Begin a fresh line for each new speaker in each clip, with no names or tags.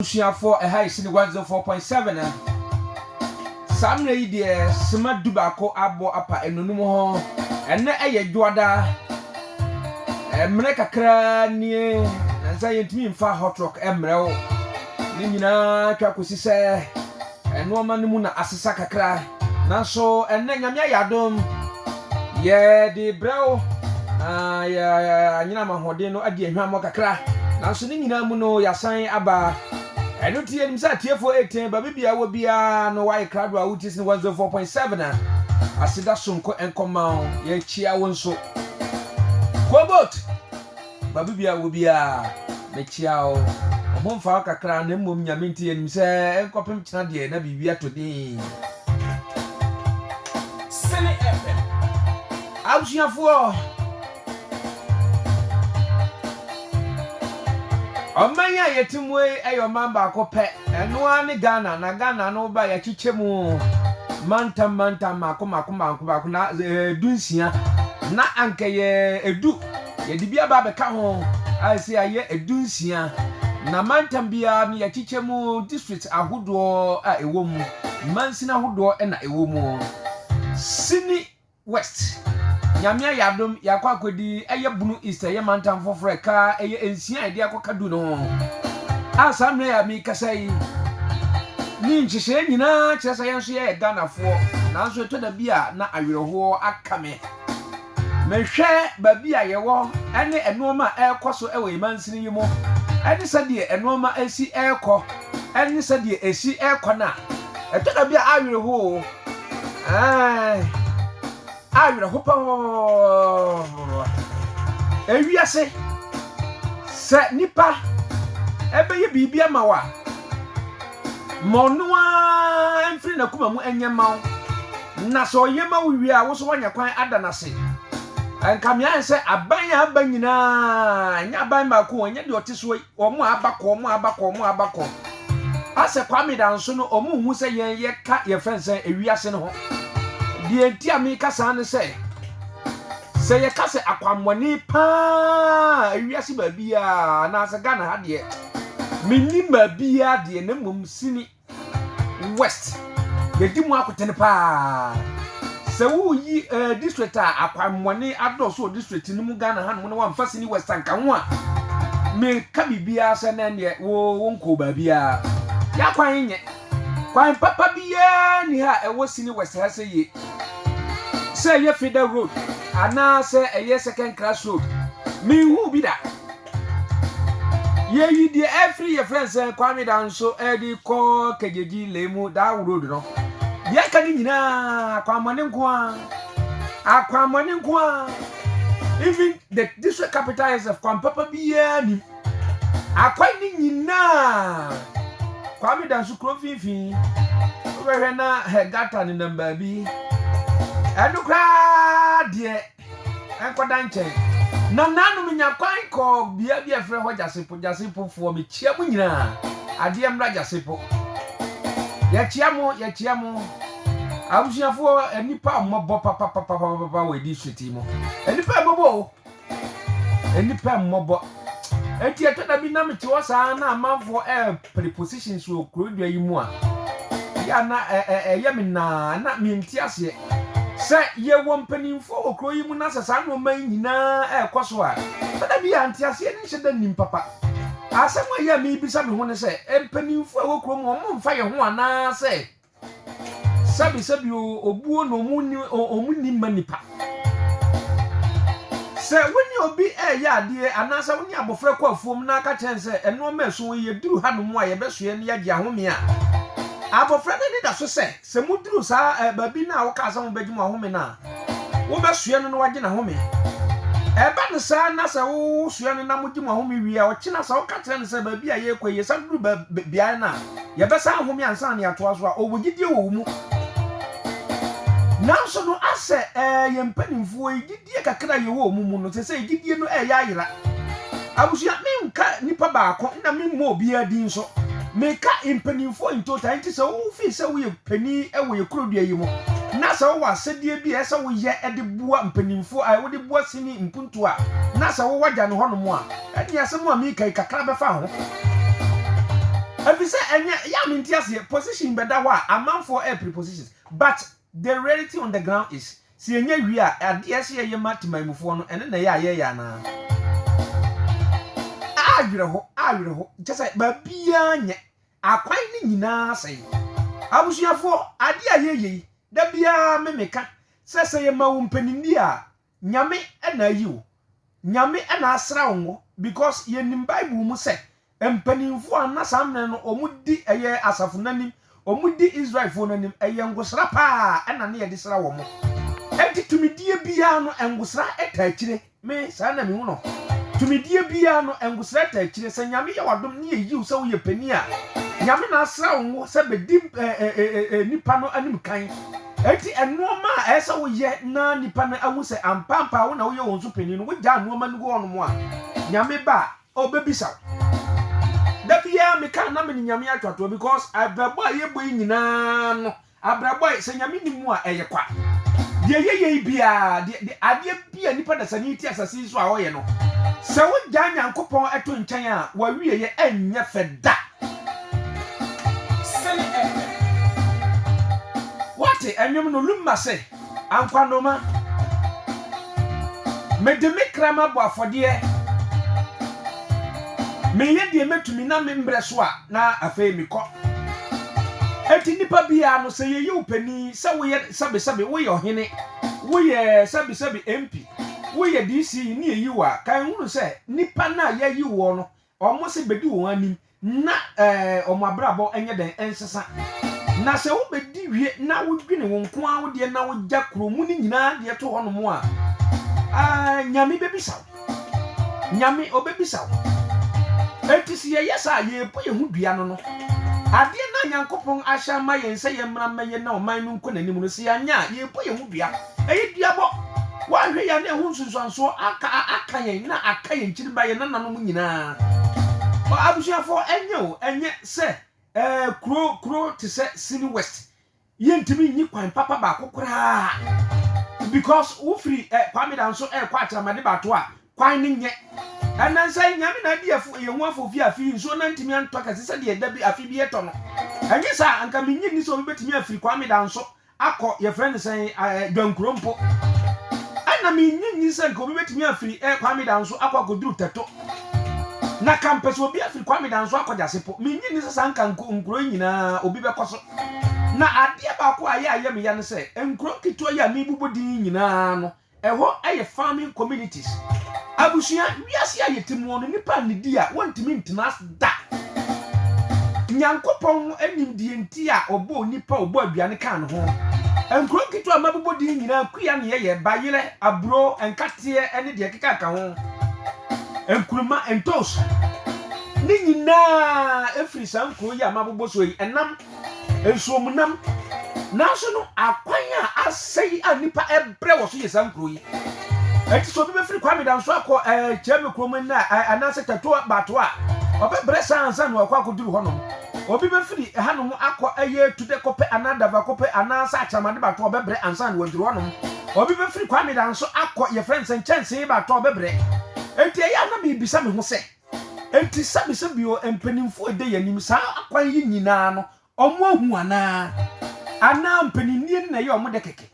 Abusuafoɔ ɛha yɛ Sini Guanzon four point seven a saa mmerɛ yi deɛ sima du baako abɔ apa nnonum ho ɛnnɛ ɛyɛ dwoada mmerɛ kakraa nie nansa yɛntumi mfa hot rock mmerɛ wo ne nyinaa twa kɔsi sɛ Nnoɔma no mu na asesa kakra nanso ɛnnɛ Nyame ayɛ adom yɛde brɛ wo na yɛanyinam ahoɔden no adi ahwammɔ kakra nanso ne nyinaa mu no yɛasan aba ɛno nti yɛnim sɛ atiefoɔ reten baabi bia wɔ biara no woayɛ krado a wotie sini 104.7 a aseda sonko nkɔma wo yɛkyia wo nso Kobot Babibi a wɔ biara, mekyea wo. Wo ho mfa wo kakra, na mmom Nyame nti yɛnim sɛ ɛnkɔpem kyena deɛ na biribi atɔ din. Sene FM. Abusuafoɔ, ɔman a yɛte mu yi yɛ ɔman baako pɛ, ɛno ara ne Ghana, na Ghana no woba a yɛakyekyɛ mu mantam mantam, mmaako mmaako mmaako mmaako, na ɛyɛ du nsia, na anka ɛyɛ du. Yɛde bi aba abɛka ho a ɛsɛ ayɛ du nsia, na mantam biara no yɛakyekyɛ mu district ahodoɔ a ɛwɔ mu, mansin ahodoɔ na ɛwɔ mu. Sini West, Nyame ayɛ adom yɛakɔ akɔdi ɛyɛ Bunu East ɛyɛ mantam foforɔ ɛka ɛyɛ nsia a yɛde akɔka du no ho a saa mmerɛ yi a merekasa yi ne nhyehyɛeɛ nyinaa kyerɛ sɛ yɛn nso yɛyɛ Ghanafoɔ nanso ɛtɔ da bi a na awerɛhoɔ aka me. Mehwɛ baabi a yɛwɔ ne nnoɔma a ɛrekɔ so wɔ yɛn mansini yi mu ne sɛdeɛ nnoɔma si rekɔ ne sɛdeɛ ɛsi rekɔ no a, ɛtɔ da bi a awerɛho o, ɛɛn, awerɛho papapapapapapa. Ewiase, sɛ nnipa ɛbɛyɛ biribi ama wo a, Ma ɔno ara mfiri n'akoma mu nyɛ mma wo, na sɛ ɔyɛ ma wo wie a, wo nso woanya kwan ada no ase. Anka me ayɛ sɛ aban a aba nyinaa, ɛnyɛ aban baako o, ɛnyɛ deɛ ɔte soɔ yi, wɔn a aba kɔ, wɔn a aba kɔ, wɔn a aba kɔ. Asɛ Kwame Danso no, wɔnhu sɛ yɛn yɛka yɛfrɛ no sɛ ewiase no ho. Deɛ nti a meka saa ne sɛ, Sɛ yɛka sɛ akwammɔne paa wiase baabiaa anaasɛ Ghana ha deɛ mennim baabiaa deɛ na mmom Sini West yɛdi mu akotene paa. Sɛ woreyi eh, district a akwammɔne adɔɔso wɔ district no mu Ghana hanom na wamfa Sini West anka ho a, meka biribiaa sɛ na ɛneɛ wo wonkɔɔ baabiaa. Yɛakwan nyɛ. Kwan papa biara nni ha a ɛwɔ Sini West ha sɛ ye. Sɛ ɛyɛ Feda Road anaa sɛ ɛyɛ Second Class Road, menhuu bi da. Yɛyi deɛ ɛfiri yɛfrɛ nsɛ Kwame Danso ɛde kɔ Kegyegyi Lemu Daw Road no. Deɛ aka no nyinaa akwammɔne nko ara. Akwammɔne nko ara. Even the district capital itself, kwan papa biara nnim. Akwan no nyinaa, Kwame da nso kuro mfimfini, wobɛhwɛ na hɛ gata nenam baabi, ɛno koraa deɛ ɛnkɔda nkyɛn. Na naano menya kwan kɔɔ bea bi a ɛfrɛ hɔ Gyasepo, Gyasepofoɔ mekyia mo nyinaa, adeɛ mmra Gyasepo. Yɛkyia mo, yɛkyia mo. Abusuafoɔ, nnipa a wɔmmɔbɔ papapapapapa wɔ district yi mu. Nnipa a wɔmmɔbɔ o. Nnipa mmɔbɔ. Enti ɛtɔ da bi na mete hɔ saa na amanfoɔ repere positions wɔ kuro dua yi mu a, yɛ a na ɛyɛ me naa na mente aseɛ. Sɛ yɛwɔ mpanimfoɔ wɔ kuro yi mu na sɛ saa nneɛma yi nyinaa ɛrekɔ so a, ɛtɔ da bi a nteaseɛ no nhyɛ da nnim papa. Asɛm a ɛyɛ a mebisa me ho ne sɛ, mpanimfoɔ a ɛwɔ kurom wɔmfa yɛn ho anaasɛ Sɛbi sɛbi oo, obuo na ɔmo nni ɔmo nni mma nipa. Sɛ wo ne obi reyɛ adeɛ anaasɛ wo ne abɔfra rekɔ afuom na aka kyerɛ no sɛ nnoɔma a ɛso yi ɛduru hanom a yɛbɛsoɛ na yɛagye ahome a, abɔfra no ani da so sɛ, sɛ moduru saa baabi no a wokaa sɛ mobɛgye mo ahome no a, Wobɛsoɛ no na woagye n'ahome. Ɛba no saa na sɛ wosoɛ no na mogye mo ahome wie a, ɔkyena sɛ woka kyerɛ no sɛ baabi a yɛrekɔ yi, yɛsan duru beaeɛ no a, yɛbɛsan ahome ansa na yɛatoa so a, ɔwɔ gyidie wɔ wo mu. Nanso no, asɛ ɛɛ, yɛn mpanimfoɔ yi, gyidie kakra a yɛwɔ wɔn mu no, seesei gyidie no reyɛ ayera. Abusua, menka nipa baako na memmu obiara din so. Meka mpanimfoɔ in total. Enti sɛ wofii sɛ woyɛ. panin wɔ yɛn kurodua yi mu, na sɛ wowɔ asɛdeɛ bi a ɛsɛ sɛ woyɛ de boa mpaninfoɔ a, wode boa sini mpuntuo a, na sɛ wowɔ agya no hɔ nom a, ɛneɛ asɛm a mereka yi kakra bɛfa ho. Ɛfiri sɛ ɛnyɛ, ɛyɛ a mente aseɛ, position bɛda hɔ a, amanfoɔ ɛrepere positions, but the reality on the ground is, sɛ yɛnya wie a, adeɛ a ɛsɛ sɛ yɛyɛ ma temanmufoɔ no, ɛno na ɛyɛ a yɛyɛ anaa? Awerɛho, awerɛho, kyerɛ sɛ baabiara nyɛ. Akwan no nyinaa sɛe. Abusuafoɔ, adeɛ a yɛyɛ yi, da biara me meka sɛ sɛ yɛma wo mpaninnie a, Nyame na ayi wo. Nyame na asra wo ngo because yɛnim Bible mu sɛ mpaninfoɔ a na saa mmerɛ no wɔn di ɛyɛ asafo no anim, wɔn di Israelfoɔ no anim, ɛyɛ ngosra paa na ne yɛde sra wɔn. Ɛnti tumidie biara no ngosra ta akyire. Me, saa na mihu no. Tumidie biara no, ngosra ta akyire. Sɛ Nyame yɛ w'adom ne yɛ yiw sɛ wo yɛ panin a, Nyame na asra wo ngo sɛ bɛ di nnipa no anim kan. Enti nnoɔma a ɛsɛ wo yɛ na nnipa no ahu sɛ ampampaa wo na wo yɛ wɔn so panin no, wo gyaa nnoɔma no gu hɔ nom a, Nyame ba a, ɔ bɛ bisa wo. Da biara me ka na me ne Nyame atwa toɔ because abirabɔ a yɛ bɔ yi nyinaa no Abrabɔe, sɛ Nyame nni mu a, ɛyɛ kwa. Deɛ yɛyɛ yi biara, deɛ, deɛ, adeɛ bi a nipa dasani yi te asase yi so a ɔyɛ no, sɛ wogyaa Nyankopɔn to nkyɛn a, w'awieɛ ɛnyɛ fɛ da. Sene ɛɛ. Woate? Ɛnwom no, Lumma se, Ankwanoma, mede me kra mabɔ afɔdeɛ, meyɛ deɛ mɛtumi na me mbrɛ so a, na afei mekɔ. Enti nnipa biara no, sɛ yɛyi wo panin, sɛ woyɛ sɛbesɛbe, woyɛ ɔhene, woyɛ sɛbesɛbe MP, woyɛ DC ne yɛyi wo a, ka nhunu sɛ nnipa no a yɛayi woɔ no Wɔn se bedi wɔn anim na wɔn abrabɔ nyɛ dɛn? Nsesa. Na sɛ wobedi wie na wodwene wo nko ara wo deɛ na wogya kuro mu no nyinaa deɛ to hɔnom a, ah, Nyame bebisa wo. Nyame obebisa wo. Enti se yɛyɛ saa a, yɛrepo yɛn ho dua no no. Adeɛ no a Nyankopɔn ahyɛ ama yɛn sɛ yɛmmra mmɛyɛ na ɔman no nkɔ n'anim no, se yɛanyɛ a, yɛrepo yɛn ho dua. Ɛyɛ duabɔ. Woanhwɛ yie a na ɛho nsunsuansoɔ aka aka yɛn na aka yɛn kyiriba, yɛn nananom nyinaa. Ɔ abusuafoɔ, ɛnyɛ o, ɛnyɛ sɛ ɛɛ kuro kuro te sɛ Sini West, yɛntumi nyi kwan papa baako koraa because wofiri ɛ Kwame Dan so ɛɛkɔ Akyerɛmade Baato a, kwan no nyɛ. Ɛnnɛ nso ɛ Nyame na adi ɛfo yɛn ho afo fi afe yi nsuo no antumi antɔ kɛse sɛdeɛ da bi afe bi ɛtɔ no. Ɛnyɛ saa a, anka mennye nni sɛ obi bɛtumi afiri Kwame Dan so akɔ yɛfrɛ no sɛn ɛɛ Dwankuro mpo. Ɛna me nnye nni sɛ nka obi bɛtumi afiri ɛɛ Kwame Danso akɔ akɔduru Tɛto. Na ka mpɛ sɛ obi afiri Kwame Danso akɔ Gyase po. Me nnye nni sɛ saa nka nko nkuro yi nyinaa obi bɛkɔ so. Na adeɛ baako a ɛyɛ a ɛyɛ me ya ne sɛ nkuro nketewa yi a merebobɔ din yi nyinaa no Ɛhɔ yɛ farming communities. Abusua, wiase a yɛte mu no, nnipa nnidi a wontumi ntena ase da. Nyankopɔn nim deɛ nti a ɔbɔɔ onipa a ɔbɔɔ aduane kaa ne ho. Nkuro nketewa a mabobɔ din nyinaa, Kua ne Yɛyɛ, Bayerɛ, Aburo, Nkateɛ ne deɛ ɛkeka ka ho, Nkrumah, Ntoos, ne nyinaa firi saa nkuro yi a mabobɔ so yi, ɛnam Nsuomunam. Nanso no, akwan a asɛe a nnipa brɛ wɔ so yɛ saa nkuro yi. Enti sɛ obi bɛfiri Kwame Danso akɔ ɛɛ eh, Kyerɛme kurom nna eh, anaasɛ Tatoa Bato a, ɔbɛbrɛ saa ansa na wakɔ akɔduru hɔnom. Obi bɛfiri hanom akɔ ɛyɛ eh, Tudekɔpɛ anaa Davakɔpɛ anaasɛ Akyerɛmade Bato a, ɔbɛbrɛ ansa na waduru hɔnom. Obi bɛfiri Kwame Danso akɔ yɛfrɛ no sɛ Nkyɛnsee Bato a, ɔbɛbrɛ. Enti ɛyɛ a na mebisa me ho sɛ. Enti sɛbi sɛbi o mpanyinfo a ɛda yɛn anim saa akwan yi nyinaa no wɔn ahu anaa anaa mpanyinie no na ɛyɛ wɔn dɛ kɛkɛ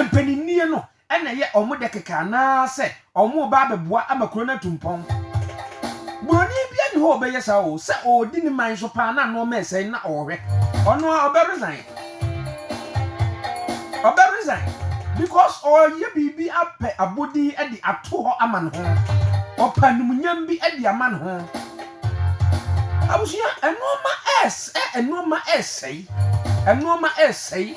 mpanyinie no ɛna ɛyɛ wɔn dɛ kɛkɛ anaa sɛ wɔn reba abɛboa ama kuro no atu mpɔn buroni bi ani hɔ ɔbɛyɛ saa o sɛ ɔredi ne man so paa na nneɛma ɛsɛe na ɔrehwɛ ɔno a ɔbɛ resign. Ɔbɛ resign because ɔreyɛ biribi apɛ abodin de ato hɔ ama ne ho. Ɔpɛ anumunyam bi de ama ne ho. Abusua, nnoɔma ɛres ɛ, nnoɔma ɛresɛe, nnoɔma ɛresɛe.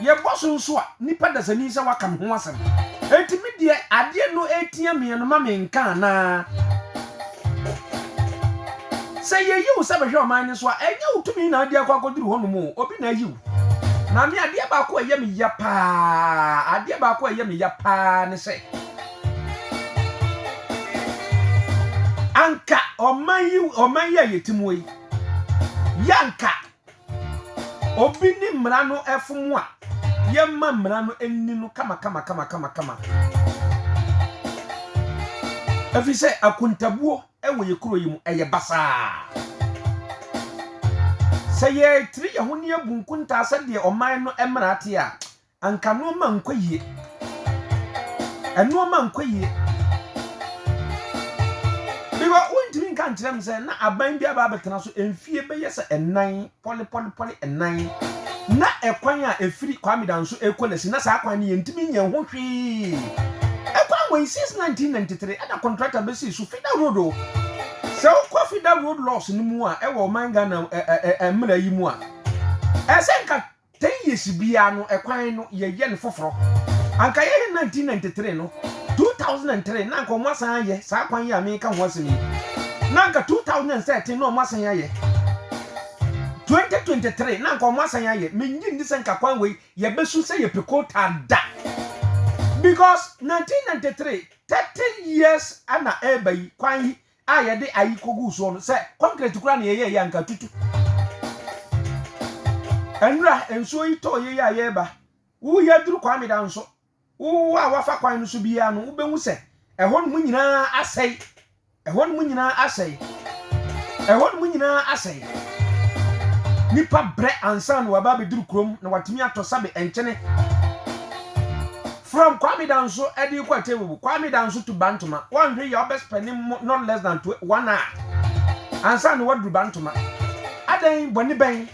Yɛbɔ so nso a, nipa dasani sɛ waka me ho asɛm. Enti me deɛ adeɛ no ɛretia me no ma me nka anaa? Sɛ yeyi wo sɛ bɛhwɛ ɔman no so a, ɛnyɛ wo tumi na ade akɔ akɔduru hɔnom o, obi na ayi wo. Maame, adeɛ baako a ɛyɛ me ya paa, adeɛ baako a ɛyɛ me ya paa ne sɛ, anka ɔman yi, ɔman yi a yɛte mu yi, yɛ anka Obi ne mmara no fom a, yɛmma mmara no nni no kamakamakamakama. Efisɛ akontabuo wɔ yɛn kuro yi mu, ɛyɛ basaa. Sɛ yɛtiri yɛn ho na yɛbu nkontaa sɛdeɛ ɔman no mmara te a, Anka nnoɔma nkɔ yie. Nnoɔma nkɔ yie. Because wontumi nka nkyerɛ me sɛ na aban bi aba abɛtena so mfie bɛyɛ sɛ nnan, pɔle pɔle pɔle nnan. Na ɛkwan a ɛfiri Kwame Danso ɛkɔ Lasi, na saa kwan no yɛntumi nyɛ ho hwee. Ɛkwan wei since 1993 ɛna contractor bɛsii so, Fida Road o. Sɛ wokɔ Fida Road laws no mu a ɛwɔ ɔman Ghana mmara yi mu a, ɛsɛ nka. Ten years biara no ɛkwan no yɛ yɛ no foforɔ anka yɛ yɛ 1993 no 2003 na anka ɔmo asan ayɛ saa kwan yi a meka ho asɛm yi na anka 2013 na ɔmo asan ayɛ 2023 na anka ɔmo asan ayɛ me ngye ndi sɛ nka kwan wei yɛ bɛ su sɛ yɛ pe kotaa da because 1993 30 years ɛna ɛɛba yi kwan yi a yɛde ayi koguu soɔ no, sɛ kɔnkrɛt koraa na yɛyɛeɛ a, anka atutu. Nnora, nsuo yi tɔɔ yei a yɛreba. Wo yi aduru Kwameda nso. Wo a woafa kwan no so biara no, wobɛhu sɛ ɛhɔnom nyinaa asɛe. Ɛhɔnom nyinaa asɛe. Ɛhɔnom nyinaa asɛe. Nnipa brɛ ansa na wɔaba abɛduru kurom na wɔatumi atɔ sabe nkyene. From Kwame Danso de rekɔ Atewu, Kwame Danso to Bantoma, woanhwɛ yie a wobɛ spɛne not less than one hour ansa na woaduru Bantoma. Adɛn, bɔne bɛn?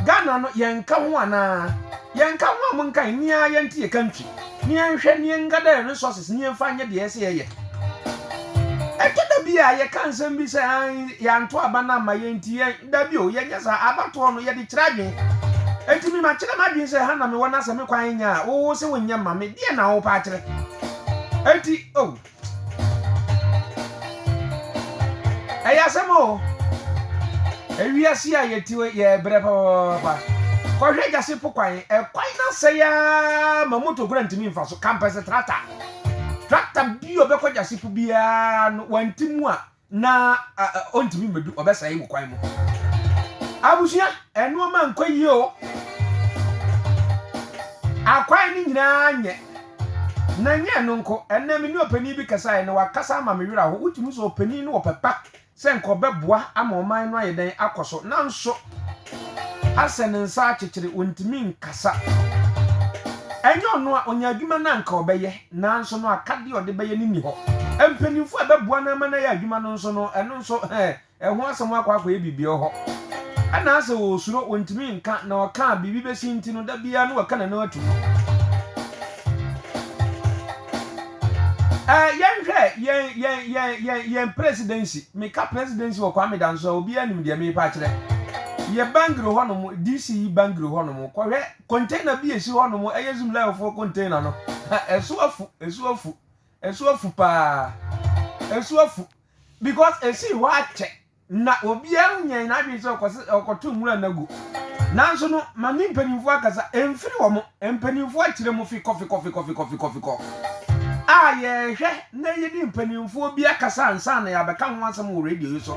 Ghana no yɛnka ho anaa? Yɛnka ho a monkae, nni ara yɛnte yɛ country na yɛnhwɛ na yɛngather resources na yɛmfa nyɛ deɛ ɛsɛ yɛyɛ. Ɛtɔ da bi a yɛka nsɛm bi sɛ ae yɛanto aba no amma yɛn nti yɛn. Dabi o, yɛnyɛ saa. Abatoɔ no, yɛde kyerɛ adwene. Enti me makyerɛ m'adwene sɛ ha na mewɔ na sɛ me kwan nya a, wo se wonyɛ mma me, deɛn na wopɛ akyerɛ? Enti oh. Ɛyɛ asɛm o. Ewiase a yɛte wei, yɛrebrɛ papaapa. Kɔhwɛ Gyase po kwan, ɛkwan no asɛe ara ma moto kura ntumi mfa so, kampɛsɛ tractor. Tractor bi a ɔbɛkɔ Gyase po biara no, wanti mu a, Na ɔntumi mmedu ɔbɛsɛe wo kwan mu. Abusua, nnoɔma nkɔ yie o. Akwan no nyinaa nyɛ. Na ɛnyɛ ɛno nko, ɛnnɛ me ne ɔpanin bi kasaeɛ na wakasa ama me werɛ aho. Wotumi hu sɛ ɔpanin no wɔ pɛ pa sɛ nka ɔbɛboa ama ɔman no ayɛ dɛn akɔ so, nanso asɛ ne nsa akyekyere, ɔntumi nkasa. Ɛnyɛ ɔno a, ɔnya adwuma no a nka ɔbɛyɛ. Nanso no, akadeɛ a ɔde bɛyɛ no nni hɔ. Mpanimfoɔ a ɛbɛboa no ama no ayɛ adwuma no nso no, ɛno nso, ɛho asɛm a wɔakɔ akɔyɛ biribi wɔ hɔ. Ɛna asɛ ɔresuro, ɔntumi nka, na ɔka a, biribi bɛsi nti no, da biara no waka n'ano ato mu. Ɛɛ, yɛnhwɛ yɛn, yɛn, yɛn, yɛn, yɛn Presidency. Meka Presidency wɔ Kwame Danso a, obiara nim deɛ merepɛ akyerɛ. Yɛ Bangui hɔnom, DC yi Bangui hɔnom, kɔhwɛ Container bi a esi hɔ nom, ɛyɛ Zimlayofoɔ container no, ha ɛso afu, ɛso afu, ɛso afu paa, ɛso afu, because esi hɔ akyɛ, na obiara nyɛ n'adwene sɛ ɔkɔsi ɔkɔto nwura na gu, nanso no ma ne mpanimfoɔ akasa, ɛmfiri wɔn, mpanimfoɔ akyerɛ mu fikɔ fikɔ fikɔ fikɔ fikɔ fikɔ, a yɛhwɛ na yɛne mpanimfoɔ bi akasa ansa na yɛabɛka ho asɛm wɔ radio yi so,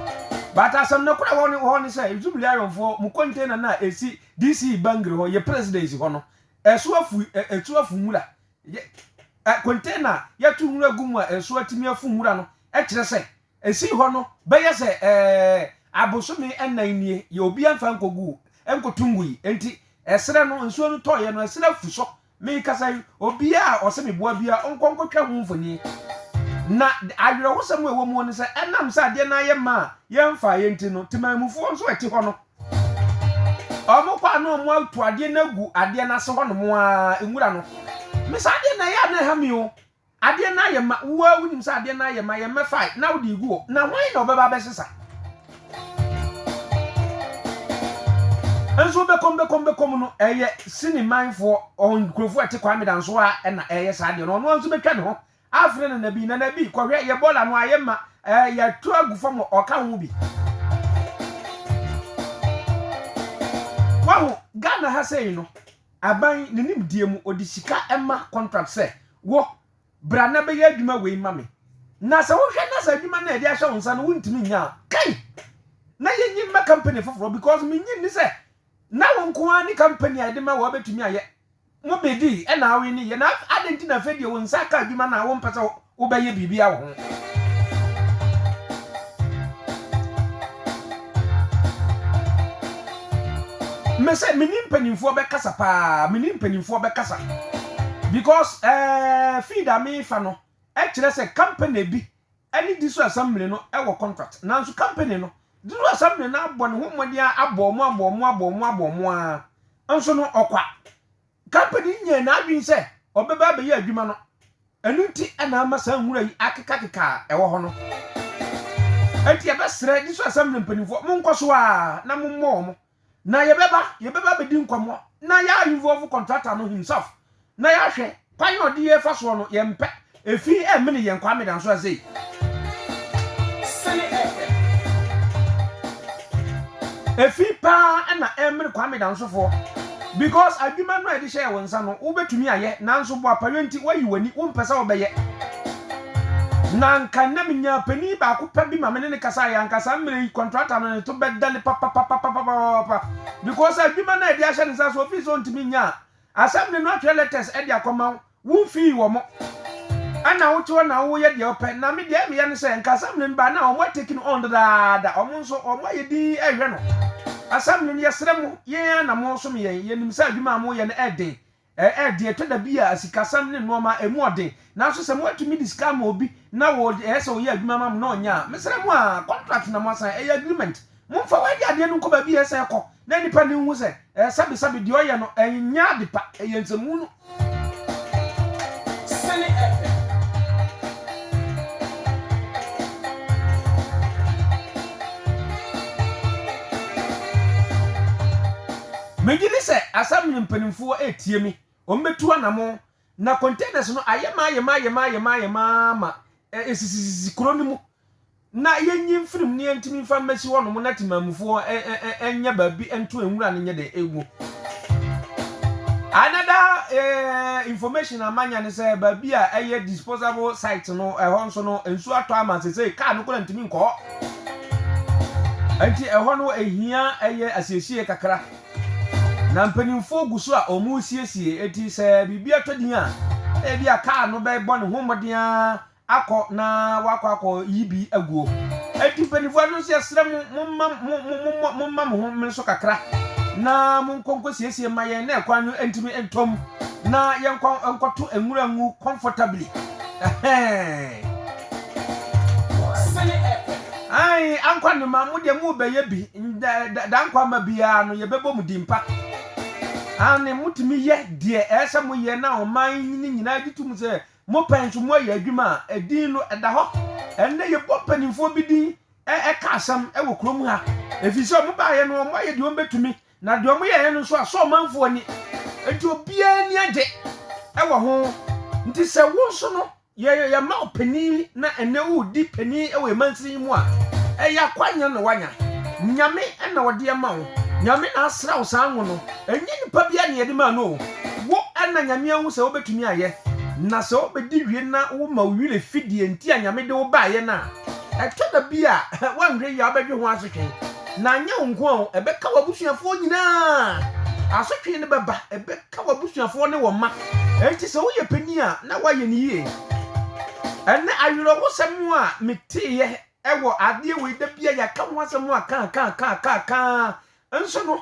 but asɛm no kora wɔ hɔ ne sɛ Zimlayonfoɔ mu container no a esi DC Bangui hɔ yɛ presidency hɔ no, ɛso afu ɛ, ɛtu afu nwura. Yɛ, ɛ, container a yɛto nwura gu mu a ɛso atumi afu nwura no kyerɛ sɛ ɛsii hɔ no bɛyɛ sɛ ɛ, abosome nnan nie, yɛ obi amfa nkɔgu, nkɔto ngui. Enti, ɛserɛ no, nsuo no tɔeɛ no, ɛserɛ afu so. Merekasa yi, obiara a ɔsɛ meboa biara ɔnkɔ nkɔtwa ho mfoni. Na awerɛhosɛm a ɛwɔ mu ne sɛ, ɛnam sɛ adeɛ no ara yɛ ma a yɛmfaa yɛ nti no, temanmufoɔ nso a ɛte hɔ no, wɔkɔ a na wɔato adeɛ no agu adeɛ no ase hɔnom ara, nwura no. Me saa adeɛ no, ɛyɛ a na ɛha me o. Adeɛ no ayɛ ma, wo ara wonim sɛ adeɛ no ayɛ ma, yɛmmɛfae na wode regu hɔ, na hwan na ɔbɛba abɛsesa? Nso bɛkɔm bɛkɔm bɛkɔm no, ɛyɛ Sini manfoɔ, nkurɔfoɔ a ɛte Kwame Danso a ɛna ɛyɛ saa adeɛ no, ɔno ara nso bɛtwa ne ho afrɛ Nana Bi, Nana Bi, kɔhwɛ, yɛ bɔɔla no ayɛ ma, ɛɛ, yɛatu agu fam a ɔka ho bi. Wahu, Ghana ha sei no, Aban, ne nimdeɛ mu, ɔde sika ma contract sɛ, Wo, bra na bɛyɛ adwuma wei ma me. Na sɛ wohwɛ na sɛ adwuma no a yɛde ahyɛ wo nsa no wontumi nyɛ a, kai! Na yɛnyi mma company foforɔ because mennye nni sɛ na wo nko ara ne company a yɛde ma wo a wobɛtumi ayɛ. Mobedii, ɛna aweneeɛ. Na adɛn nti na afei deɛ wo nsa aka adwuma no a wompɛ sɛ Wobɛyɛ biribi a wɔ ho? Mese me ni mpaninfoɔ bɛ kasa paa me ni mpaninfoɔ bɛ kasa because ɛɛ feed a me fa no ɛkyerɛ sɛ company bi ɛne diso assembly no ɛwɔ contract nanso company no diso assembly no abɔ ne ho mmɔden a abɔ ɔmo abɔ ɔmo abɔ ɔmo abɔ ɔmo aa nso no ɔkwa Company no nyaa n'adwene sɛ ɔbɛba abɛyɛ adwuma no, ɛno nti na ama saa nwura yi akekakeka a ɛwɔ hɔ no. Enti yɛbɛsrɛ Diso Assembly mpanimfoɔ, monkɔ so ara na mommɔ wɔn, na yɛbɛba, yɛbɛba abɛdi nkɔmmɔ na yɛa involve contractor no himself na yɛahwɛ kwan a ɔde yɛ fa soɔ no, yɛmpɛ Efi ɛ mene yɛn Kwame Danso a sei. Sene ɛ ɛ. Efi paa ɛna ɛ mene Kwame Danso foɔ because adwuma no a yɛde hyɛɛ wo nsa no wo bɛ tumi ayɛ nanso boapayɔ nti woayi w'ani wo mpɛ sɛ wo bɛyɛ na nka nnɛ me nyaa panin baako pɛ bi ma me ne no kasaeɛ anka saa mmerɛ yi contractor no ne to bɛ dale papapapapapapapa because adwuma no a yɛde ahyɛ ne nsa so ofi sɛ ɔntumi nyɛ a asɛm ne no atwerɛ letters ɛde akɔ ma wo Wo mfii wɔn. Ɛna wo te hɔ na wo yɛ deɛ wo pɛ, na me deɛ me yɛ ne sɛ nka assembly no ba na wɔn a take no on dedaada, wɔn nso wɔn ayɛ dinn rehwɛ no. Assembly no yɛ srɛ mo, yɛn ara na mo som yɛn, yɛ nim sɛ adwuma a mo yɛ no ɛden, ɛyɛ den, ɛtɔ da bi a sikasɛm ne nnoɔma a ɛmu ɔden, nanso sɛ mo atumi de sika ama obi na wɔ yɛ sɛ ɔyɛ adwuma ma mo na ɔnya a, me srɛ mo aa, contract na mo asan, ɛyɛ agreement. Momfa wɔadi adeɛ no nkɔ baabi a ɛsɛ kɔ na nnipa no nhu sɛ ɛyɛ sabesabe, deɛ ɔyɛ no ɛnyɛ ade pa, ɛyɛ nsɛmhunu. Sene ɛpɛ. Megye di sɛ Assembly mpanimfoɔ retie me, wɔbɛtu anamɔn, na containers no ayɛ ma ayɛ ma ayɛ ma ayɛ ma ayɛ ma ma ɛsisisisi kuro no mu. na yɛnyi mfiri mu na yɛntumi mfa mmɛsi hɔnom na temanmufoɔ nyɛ baabi nto nwura no nyɛ dɛn ɛgu. Another eh, information a manya ne sɛ baabi a ɛyɛ disposable site no ɛhɔ nso no nsuo atɔ ama sesei kaa no koraa ntumi nkɔ hɔ. Nti ɛhɔ no ɛhia ɛyɛ asiesie kakra. Na mpanimfoɔ gu so a wɔn resiesie eti sɛ biribi atɔ din a ebi a kaa no bɛbɔ ne ho mmɔden ara akɔ na wɔakɔ akɔyi bi aguo. Enti mpanimfoɔ no nso yɛsrɛ mo, momma mo, mo, mo, mo, momma mo ho mmere so kakra na monkɔ nkɔsiesie ma yɛn na kwan no ntumi ntɔ mu na yɛnkɔ nkɔto nwura ngu comfortably. Ɛhɛɛ. Ae, Ankwa Noma, mo deɛ morebɛyɛ bi, da, da, da nkwa mma biara no, yɛbɛbɔ mo din pa. Aane, motumi yɛ deɛ ɛyɛ sɛ moyɛ na ɔman no nyinaa gye tom sɛ Mopɛ nso moayɛ adwuma a edin no da hɔ. Ɛnnɛ yɛbɔ mpanimfoɔ bi din ka asɛm wɔ kurom ha ɛfiri sɛ wɔbaeɛ no wɔayɛ deɛ wɔbɛtumi na deɛ wɔyɛeɛ no nso asɔ ɔmanfoɔ ani nti obiara ani agye wɔ ho nti sɛ wo nso no yɛma wo panin na ɛnnɛ woredi panin wɔ ɛmansini yi mu a ɛyɛ akwanya na wanya nyame na ɔde ma wo nyame na asra wo saa ngo no ɛnyɛ nipa biara na yɛde maa no o Wo na Nyame ahu sɛ wobɛtumi ayɛ, na sɛ wobɛdi wie na woma wo werɛ fi deɛ nti a Nyame de wo baeɛ no a, ɛtɔ da bi a woanhwɛ yie a wobɛdwe ho asotwe. Na anyɛ wo nko a o, ɛbɛka w'abusuafoɔ nyinaa. Asotwe no bɛba, ɛbɛka w'abusuafoɔ ne wo mma. Enti sɛ woyɛ panin a, na woayɛ no yie. Ɛnnɛ awerɛhosɛm a meteeɛ wɔ adeɛ wei da bi a yɛaka ho asɛm a kaakaakaakaakaa nso no,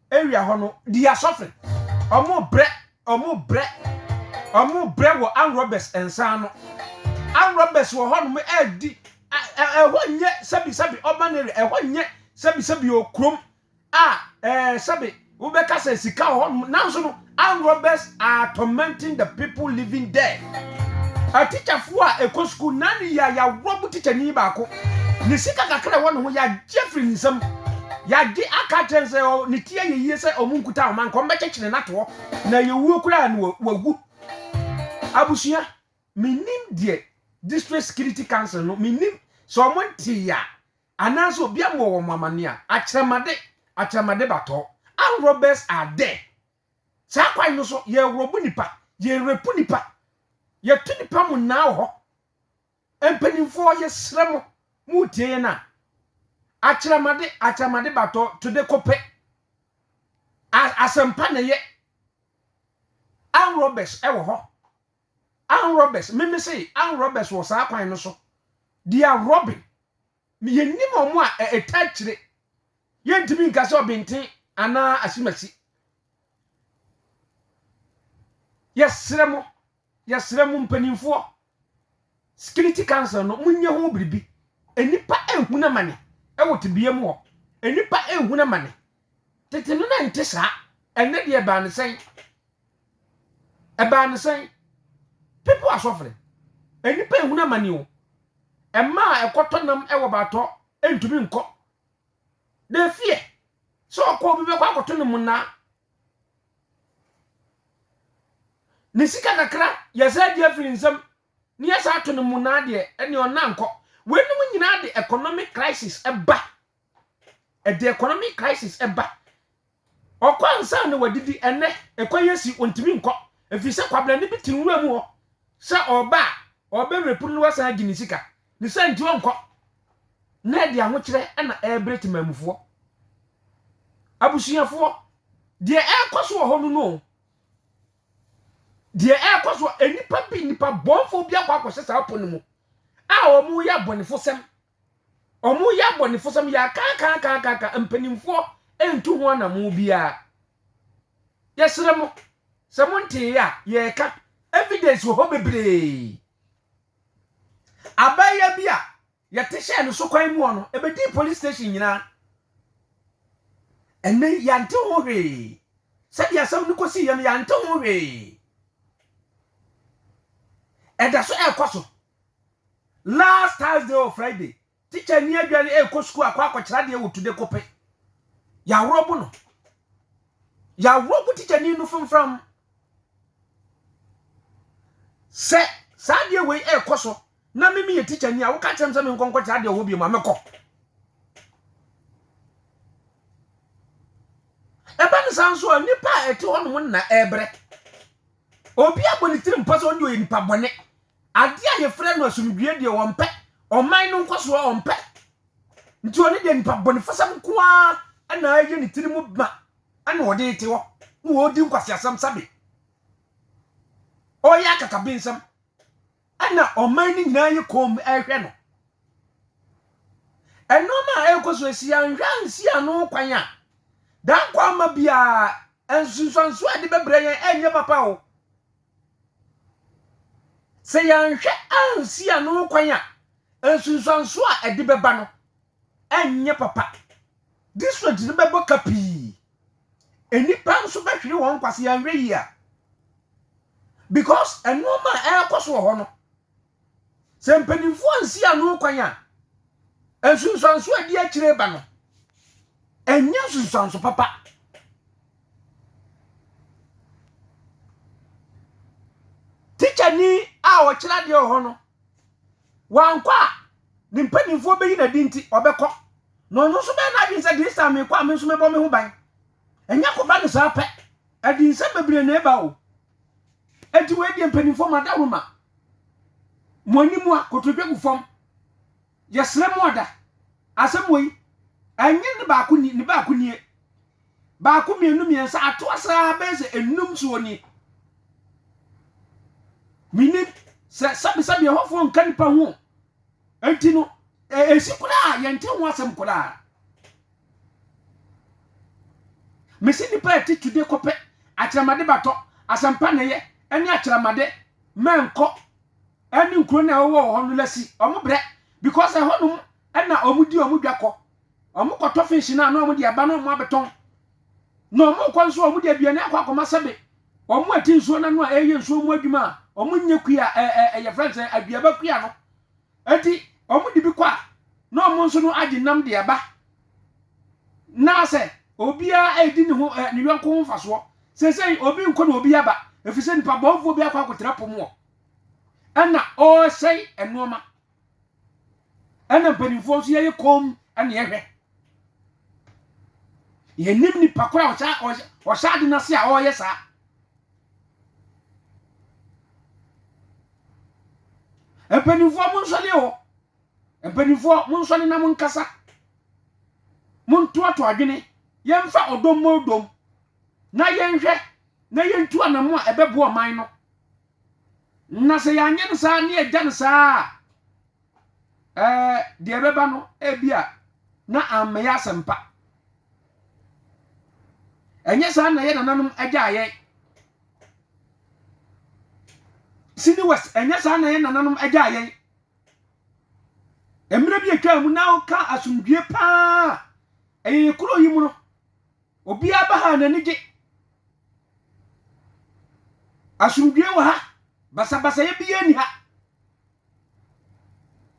Area hɔ no di asɔfre. Ɔmo brɛ ɔmo brɛ ɔmo brɛ wɔ arm robbers nsa ano. Arm robbers wɔ hɔ nom ɛɛdi ɛ ɛhɔ nyɛ sɛbi sɛbi urban area ɛhɔ nyɛ sɛbi sɛbi o krom a ɛɛ sɛbi wobɛka sɛ sika wɔ hɔ nom nanso no Armed robbers are tormenting the people living there. Atikyafoɔ a ɛkɔ sukuu nnaa no yie a yɛarob tikyani baako. Ne sika kakra a ɛwɔ ne ho yɛagye afiri ne nsam. Yɛagye aka akyerɛ no sɛ ne ti ayɛ yie sɛ wɔnkuta ahoma nka wɔbɛkyekyere no ato hɔ na ɛyɛ wuo koraa a na wawu. Abusua, mennim deɛ District Security Council no, mennim sɛ wɔntee a Anaasɛ obi amoa wɔn amanneɛ a, akyerɛmade, akyerɛmade ba tɔ. Armed robbers are there. Saa kwan no so, yɛrɔbo nnipa, yɛrepu nnipa, yɛto nnipa monnaa wɔ hɔ. Mpanimfoɔ, yɛsrɛ mo, moretie yɛn a, akyerɛmade, akyerɛmade ba tɔ, tode ko pɛ. Asɛmpa na ɛyɛ. Armed robbers wɔ hɔ. Ann Roberts, Me mesee Ann Roberts wɔ saa kwan no so, Dia Robyn, me yɛnnim wɔn a ɛ ɛta akyire. Yɛntumi nka sɛ ɔbenten anaa asimasi. Yɛsrɛ mo, yɛsrɛ mo mpanimfoɔ, Security Council no, monyɛ ho biribi. Nnipa rehunu amane wɔ tebea mu hɔ. Nnipa rehunu amane Tete no na ɛnte saa. Ɛnnɛ deɛ ɛbaa no sɛn? Ɛbaa no sɛn? People are suffering. Nnipa ehunu amane o. Mmaa a ɛkɔtɔ nam wɔ baatɔ ntumi nkɔ. They fear. Sɛ ɔkɔ obi bɛkɔ akɔto ne monnaa. Ne sika kakra yɛsɛ agye afiri nsam ne yɛsɛ ato ne monnaa deɛ ɛne ɔnna nkɔ. Weinom nyinaa de economic crisis ɛba ɛde economic crisis ɛba ɔkɔ ansa na wadidi ɛnɛ ɛkɔ yɛ si ontumi nkɔ efi sɛ kwabrani bi te nwura mu hɔ sɛ ɔba a ɔbɛ repu no wasan agye ne sika ne sɛ nti ɔnkɔ na ɛde ahokyerɛ ɛna ɛrebrɛ te maamufoɔ abusuafoɔ deɛ ɛrekɔ so wɔ hɔ no no deɛ ɛrekɔ so nnipa bi nnipa bɔnfoɔ bi akɔ akɔhyɛ saa pɔ no mu a wɔn yɛ abɔnefo sɛm Wɔyɛ abɔnefosɛm yakaakaakaaka mpanimfoɔ ntu ho anamo biara. Yɛsrɛ mo sɛ mo ntee a yɛreka evidence wɔ hɔ bebree. Abaayewa bi a yɛte hyɛɛ no so kwan mu hɔ no, ɛbɛdii police station nyinaa. Ɛnɛ yɛante ho hwee. Sɛdeɛ asɛm no kɔsiiɛ no yɛante ho hwee. Ɛda so ɛrekɔ so. Last Thursday or Friday, teacher ni adwa no ɛrekɔ sukuu akɔ akɔkyerɛ adeɛ wɔ today kope. Yɛaworɔbo no. Yɛaworɔbo teacher ni no framfram. Sɛ saa adeɛ wei ɛrekɔ so na mimi yɛ teacher ni a woka kyerɛ m sɛ menkɔ nkɔkyerɛ adeɛ wɔ hɔ biom a mɛkɔ. Ɛba no saa nso a nnipa a ɛte hɔ nom na ɛrebrɛ. Obi abɔ ne tiri mpa sɛ ɔno deɛ ɔyɛ nipa bɔne. Adeɛ a yɛfrɛ no asomdwoeɛ deɛ ɔmpɛ, ɔman no nkɔsoɔ ɔmpɛ. Nti ɔno deɛ nipa bɔnefɔsɛm nko ara ɛna ɛyɛ ne tiri mu ma ɛna ɔde te hɔ na ɔredi nkwaseasɛm sabe. Ɔyɛ akakabensɛm ɛna ɔman no nyinaa yɛ komm ɛrehwɛ no. Ɛnoɔma a ɛrekɔ so ɛsi anhwɛ ansi ano kwan a Dankwa ama biara nsunsuansoɔ a ɛde bɛbrɛ yɛn ɛnyɛ papa o. Sɛ yɛanhwɛ ansi ano kwan a, nsunsuanso a ɛde bɛba no renyɛ papa. Distrikts no bɛbɔ ka pii. Nnipa nso bɛhwere wɔn nkwa sɛ yɛanhwɛ yie a. Because nneɛma a ɛrekɔ so wɔ hɔ no, Sɛ mpanimfoɔ ansi ano kwan a, nsunsuanso a ɛdi akyire ba no, ɛnyɛ nsunsuanso papa. Tikyani a ɔkyerɛ adeɛ wɔ hɔ no, wankɔ a ne mpanimfoɔ bɛyi n'adi nti ɔbɛkɔ na ɔno nso bɛyɛ n'adwene sɛ this time mekɔ a me nso mɛbɔ me ho ban. Ɛnyɛ kɔba no saa pɛ, ɛde nsɛm bebree na ɛba o. Enti wei deɛ mpanimfoɔ madaworoma mo anim a kotodwe gu fam yɛsrɛ mo ada asɛm wei ɛnyɛ ne baako ni ne baako nie baako mmienu mmiɛnsa atoa saa bɛyɛ sɛ enum soɔ nie menim sɛ sɛbesɛbe ɛhɔfoɔ nka nipa ho enti no ɛsi koraa yɛnte ho asɛm koraa Mese nnipa a ɛte tude kɔpɛ akyerɛmade batɔ, asɛmpa nneyɛ ne akyerɛmade mmɛnkɔ ne nkuro no a ɛwɔ wɔ hɔ no lasi wɔn brɛ because ɛhɔnom na wɔn di wɔn dwa kɔ. Wɔn kɔtɔ fish no a na wɔn de aba na wɔn abɛtɔn. Na wɔn kɔ nso wɔn de aduane akɔ akɔma sɛbe wɔn a ti nsuo no ano a ɛyɛ nsuo mu adwuma a wɔn nyɛ kuya ɛɛ ɛyɛ fɛn sɛ aduaba kuya no. Enti wɔde bi kɔ a, na wɔn nso no agye nam de aba. Na sɛ obiara redi ne ho ne yɔnko ho mfasoɔ. Seesei obi nkɔ na obi aba, ɛfiri sɛ nipa bɔnfoɔ bi akɔ akɔtena po mu hɔ. Ɛna ɔresɛe nnoɔma. Ɛna mpanimfoɔ nso yɛyɛ kɔm ɛna yɛhwɛ. Yɛnim nipa koro a ɔhyɛ ɔhyɛ ade no ase a ɔreyɛ saa. Mpanimfoɔ monsɔre o, mpanimfoɔ monsɔre na monkasa. Montoatoa adwene, yɛmfa ɔdɔ mmɔ dɔ mu na yɛnhwɛ na yɛntu anammɔn a ɛbɛboa ɔman no. Na sɛ yɛanyɛ no saa na yɛagya no saa a, Ɛɛ, deɛ ɛbɛba no, ebia na ammɛyɛ asɛmpa. Ɛnyɛ saa na yɛ nananom agya yɛn. Sini West, ɛnyɛ saa na yɛ nananom agya yɛn. Mmerɛ bi atwa mu na woka asomdwie paa ɛyɛ yɛ kuro yi mu no, obiara ba ha n'ani gye. Asomdwie wɔ ha, basabasayɛ biara nni ha.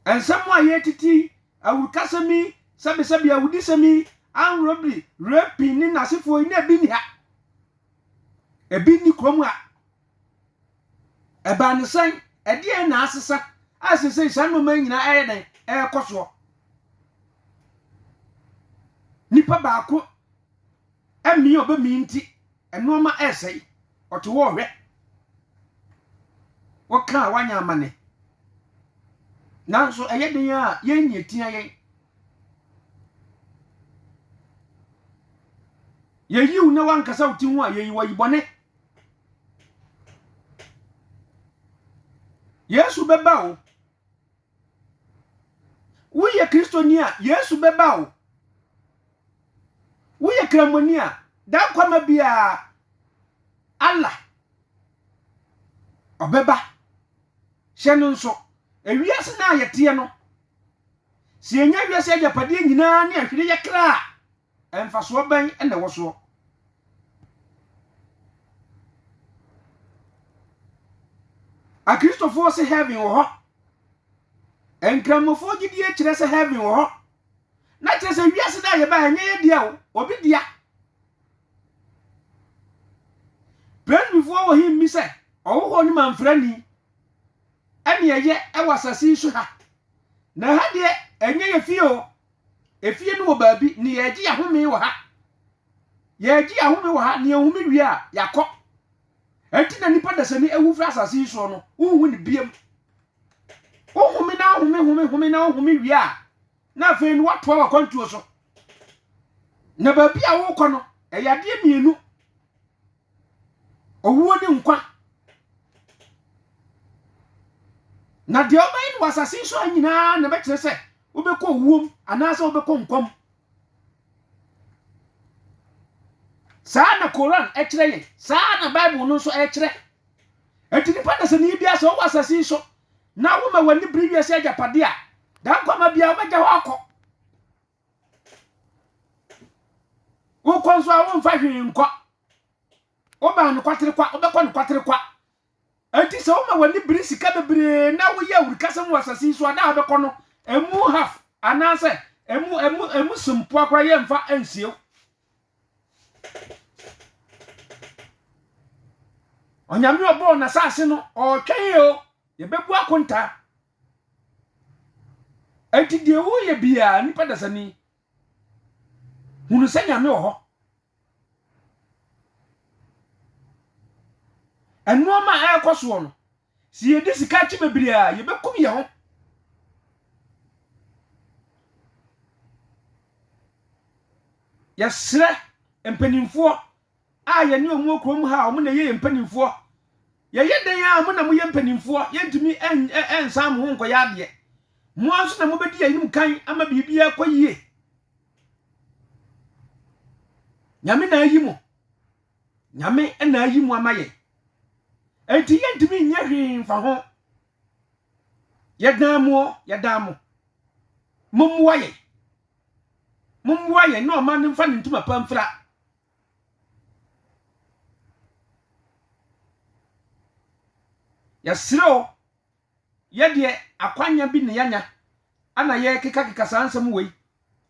Nsɛm a yɛretiti yi, awurukasɛm yi, sɛbesɛbe, awudisɛm yi, armed robbery, raping ne n'asefoɔ yi, na ebi nni ha. Ebi nni kurom ha. Ɛbaa ne sɛn? Ɛdeɛn na asesa a seesei saa nneɛma yi nyinaa ɛyɛ dɛn ɛrekɔ soɔ? Nipa baako Ɛmmee ɔbɛmee nti nnoɔma ɛresɛe, ɔte hɔ ɔhwɛ. Woka a woanyɛ amane. Nanso ɛyɛ den a yɛn na ɛtia yɛn. Yɛyiw na wankasa wo ti ho a yɛyi wayi bɔne. Yesu bɛba o. Woyɛ Kristoni a, Yesu bɛba o. Woyɛ Kramoni a, Daankwama biara, Allah, ɔbɛba. Hyɛ no nso, ewiase no a yɛteɛ no, sɛ yɛnya wiase agyapadeɛ nyinaa ne ahwere yɛ kra a, Mfasoɔ bɛn na ɛwɔ soɔ? Akristofoɔ se heaven wɔ hɔ. Nkramofoɔ gyidie kyerɛ sɛ heaven wɔ hɔ. Na kyerɛ sɛ wiase no a yɛba ɛnyɛ yɛ dea o, obi dea. Presbyfoɔ wɔ he mmi sɛ ɔhohɔ ne mamfrani ɛne ɛyɛ ɛwɔ asase yi so ha. Na ha deɛ ɛnyɛ yɛ fie o, Efie no wɔ baabi, ne yɛregye yɛn ahome wɔ ha. Yɛregye yɛn ahome wɔ ha, ne yɛn ahome wie a, yɛakɔ. Ɛnti na nipa dasani awu firi asase yi soɔ no, wonhu ne biam. Wohome na wohome home home na wohome wie a, na afei no woatoa wakwantuo so. Na baabi a wokɔ no, ɛyɛ adeɛ mmienu, owuo ne nkwa. Na deɛ wobɛyɛ no wɔ asase yi so ha nyinaa na ɛbɛkyerɛ sɛ Wobɛkɔ owuo mu anaasɛ wobɛkɔ nkwa mu. Saa na Koran kyerɛ yɛn. Saa na Bible no nso ɛkyerɛ. Enti nipa dasani biara sɛ ɔwɔ asase yi so na woma w'ani bere wiase agyapade a, daa nkwa ma biara wobɛgya hɔ akɔ. Wokɔ nso a womfa hwee nkɔ. Wobaa nokwatere kwa, wobɛkɔ nokwatere kwa. Enti sɛ woma w'ani bere sika bebree na woyɛ awurukasɛm wɔ asase yi so a, da a wobɛkɔ no, emu half anaasɛ emu emu emu so mpoa koraa yɛmfa nsie wo. Onyame ɔbɔɔ n'asase no, ɔretwɛn o, yɛbɛbu akontaa. Enti deɛ woyɛ biara, nipa dasani, hunu sɛ nyame wɔ hɔ nnoɔma a ɛrekɔ soɔ no sɛ yɛdi sika akyi bebree a yɛbɛkum yɛ ho yɛserɛ mpanimfoɔ a yɛne wɔn wɔ kurom ha a wɔn na ɛyɛ yɛn mpanimfoɔ yɛyɛ dɛn a mo na moyɛ mpanimfoɔ yɛntumi nsan mo ho nkɔyɛ adeɛ mo ara nso na mobɛdi yɛn anim kan ama biribiara kɔ yie nyame na ayi mo nyame na ayi mo ama yɛn enti yɛntumi nyɛ hwee mfa ho yɛdan mo yɛdan mo mommoa yɛn mommoa yɛn na ɔma no mfa ne ntoma pa mfira Yɛsrɛ wo, yɛ deɛ akwanya bi na yɛanya ana yɛrekekakeka saa nsɛm wei,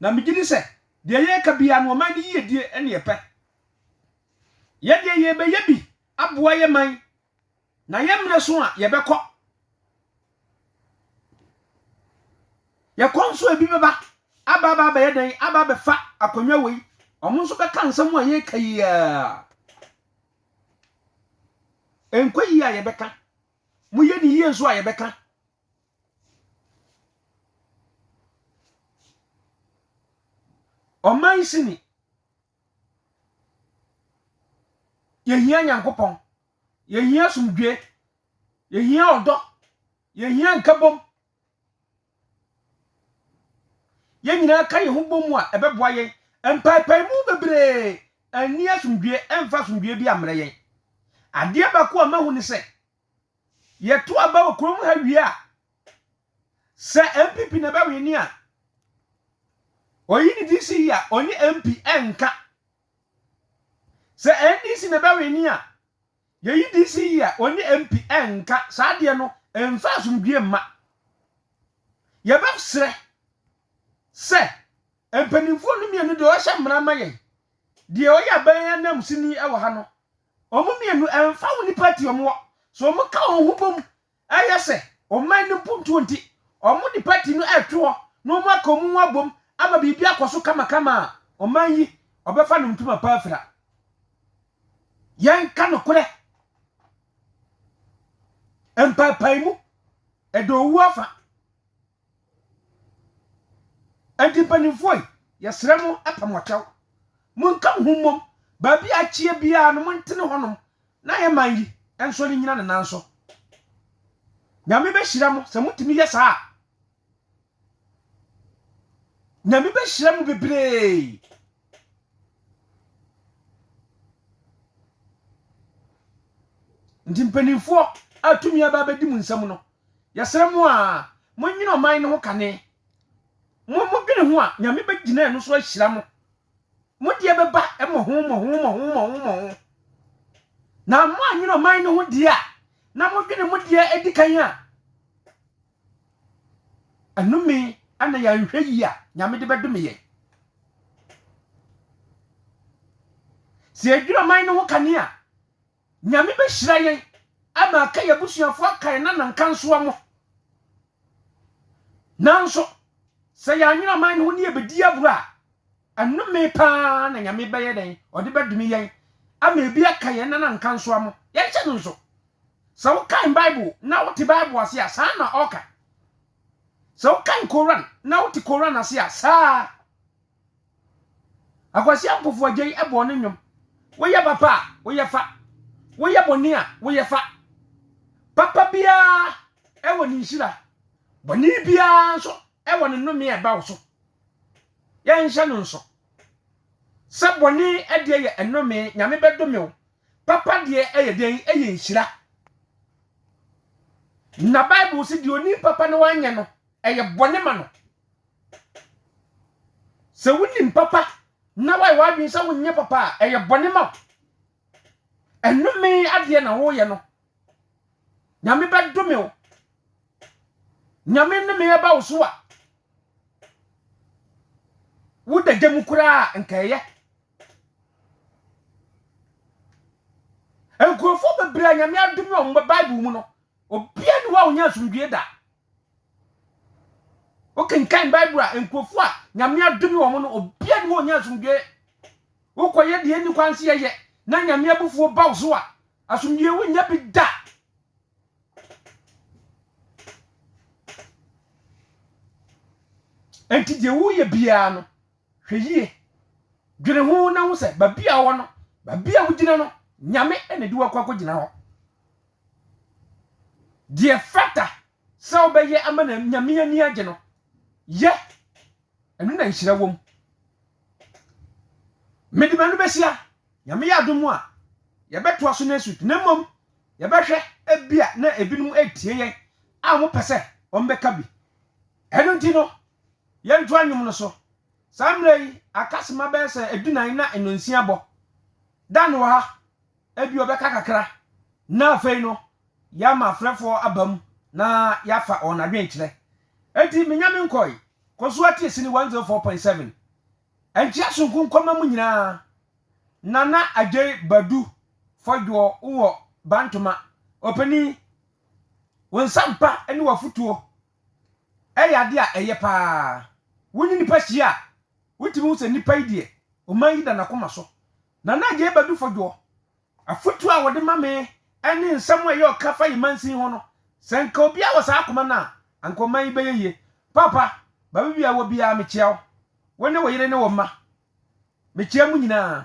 na megye di sɛ deɛ yɛreka biara no ɔman no yiedie ne yɛpɛ. Yɛ deɛ yɛrebɛyɛ bi aboa yɛ man Na yɛn mmerɛ so a yɛbɛkɔ. Yɛkɔ nso ebi bɛba aba aba abɛyɛ dɛn aba abɛfa akonnwa wei wɔn nso bɛka nsɛm a yɛreka yi a ɛnkɔ yie a yɛbɛka moyɛ ne yie nso a yɛbɛka ɔman sini Yɛhia Nyankopɔn. Yɛhia asomdwoeɛ. Yɛhia ɔdɔ. Yɛhia nkabom. Yɛn nyinaa ka yɛn ho bɔ mu a, ɛbɛboa yɛn. Mpaepaemu bebree anni asomdwoeɛ ɛmfa asomdwoeɛ bi ammrɛ yɛn. Adeɛ baako a mahu ne sɛ, Yɛto aba wɔ kurom ha wie a, sɛ NPP na ɛbɛwini a, oyi ne DC yi a ɔne MP ɛnka. Sɛ NDC na ɛbɛwini a, yɛyi DC yi a ɔne MP ɛnka. Saa adeɛ no, ɛmfa asomdwie mma. Yɛbɛsrɛ sɛ mpanimfoɔ no mmienu deɛ ɔhyɛ mmara ma yɛn, deɛ ɔyɛ aban ananmusini wɔ ha no, Wɔn mmienu, ɛmfa ho nnipa ti a wɔwɔ, sɛ wɔka wɔn ho bom yɛ sɛ ɔman no mpuntuo nti, wɔde pati no reto hɔ na wɔaka wɔn ho abom ama biribi akɔ so kamakama a, ɔman yi, ɔbɛfa no ntoma pa afira. Yɛnka nokorɛ. Mpaepaemu, ɛda owu afa. Enti mpanyimfoɔ yi, yɛsrɛ mo pɛ mo kyɛw. Monka mo ho mmom. Baabi a ɛteɛ biara no, montene hɔnom na yɛn man yi nsɔre nnyina ne nan so. Nyame bɛhyira mo sɛ motumi yɛ saa a. Nyame bɛhyira mo bebree. Nti mpanyimfoɔ a tumi aba abɛdi mo nsam no, Yɛsrɛ mo a monyina ɔman no ho kane. Mo modwene ho a, Nyame bɛgyina ɛno so ahyira mo. Mo deɛ bɛba mmɔho mmɔho mmɔho mmɔho mmɔho. Na moanyina ɔman no ho deɛ a, na modwene mo deɛ adi kan a, ɛnome ana yɛanhwɛ yie a Nyame de bɛdome yɛn. Sɛ yɛdwene ɔman no ho kane a, Nyame bɛhyira yɛn ama aka yɛn abusuafoɔ aka yɛn nanankansoɔ mo. Nanso, sɛ yɛanwene ɔman no ho ne yɛbɛdi agorɔ a, ɛnome paa na Nyame bɛyɛ dɛn? Ɔde bɛdome yɛn ama ebi aka yɛn nanankansoɔ mo. Yɛnhyɛ no nso. Sɛ wokan Bible na wote Bible ase a, saa na ɔka. Sɛ wokan Koran na wote Koran ase a, saa ara. Akwasia mpofoagya yi bɔɔ ne nnwom. Woyɛ papa a, woyɛ fa. Woyɛ bɔne a, woyɛ fa. Papa biara wɔ ne nhyira. Bɔne biara nso wɔ ne nnome a ɛba wo so. Yɛnhyɛ no nso sɛ bɔne deɛ yɛ nnome, Nyame bɛdome wo. Papa deɛ ɛyɛ dɛn? Ɛyɛ nhyira. Na Bible sɛ deɛ ɔni papa na wanyɛ no, ɛyɛ bɔne ma no. Sɛ wonim papa na woayɛ w'adwene sɛ wonyɛ papa a, ɛyɛ bɔne ma wo. Ɛnome adeɛ na woyɛ no. Nyame bɛdome wo. Nyame nnome ɛba wo so a, woda gya mu koraa nka ɛyɛ. Nkurɔfoɔ bebree a Nyame adome wɔn wɔ Bible mu no, obiara ni hɔ a ɔnya asomdwoeɛ da. Wokenkan Bible a, nkurɔfoɔ a Nyame adome wɔn no, obiara ne hɔ ɔnya asomdwoeɛ. Wokɔyɛ deɛ ɛnni kwan sɛ yɛyɛ na Nyame abufuo ba wo so a, asomdwoeɛ wonnya bi da. Enti deɛ woyɛ biara no, hwɛ yie. Dwene ho na ho sɛ baabi a wowɔ no, baabi a wogyina no, Nyame na ɛde wakɔ akɔgyina hɔ. Deɛ ɛfata sɛ wobɛyɛ ama na Nyame ani agye no, yɛ. Ɛno na nhyira wom. Mede m'ano bɛsi a, Nyame yɛ adom a, yɛbɛtoa so next week. Na mmom, yɛbɛhwɛ ebi a na ebinom retie yɛn a wɔpɛ sɛ wɔbɛka bi. Ɛno nti no, yɛntoa nnwom no so. Saa mmerɛ yi, aka sima bɛyɛ sɛ adunan na nnɔnsia abɔ. Dan wɔ ha. Ebia ɔbɛka kakra, na afei no yɛama afrɛfoɔ aba mu na yɛafa wɔn adwenkyerɛ. Enti menya me nkɔe, kɔ so atie Sini 104.7, Ankyia Sonku Nkɔma mu nyinaa. Nana Adjei Badu Fodwoɔ wowɔ Bantoma. Ɔpanin, wo nsampa ne w'afotuo yɛ adeɛ a ɛyɛ pa ara. Wo ne nnipa hyia a, wotumi hu sɛ nnipa yi deɛ, ɔman yi da n'akoma so. Nana Agyei Badu Fojoɔ, Afotuo a wɔde ma me ne nsɛm a ɛyɛ ɔka fa yɛn mansin ho no, sɛ anka obiara wɔ saa akoma no a, anka ɔman yi bɛyɛ yie. Paapa, baabi a ɛwɔ biara, mekyea wo, wo ne wo yere ne wo mma. Mekyea mo nyinaa.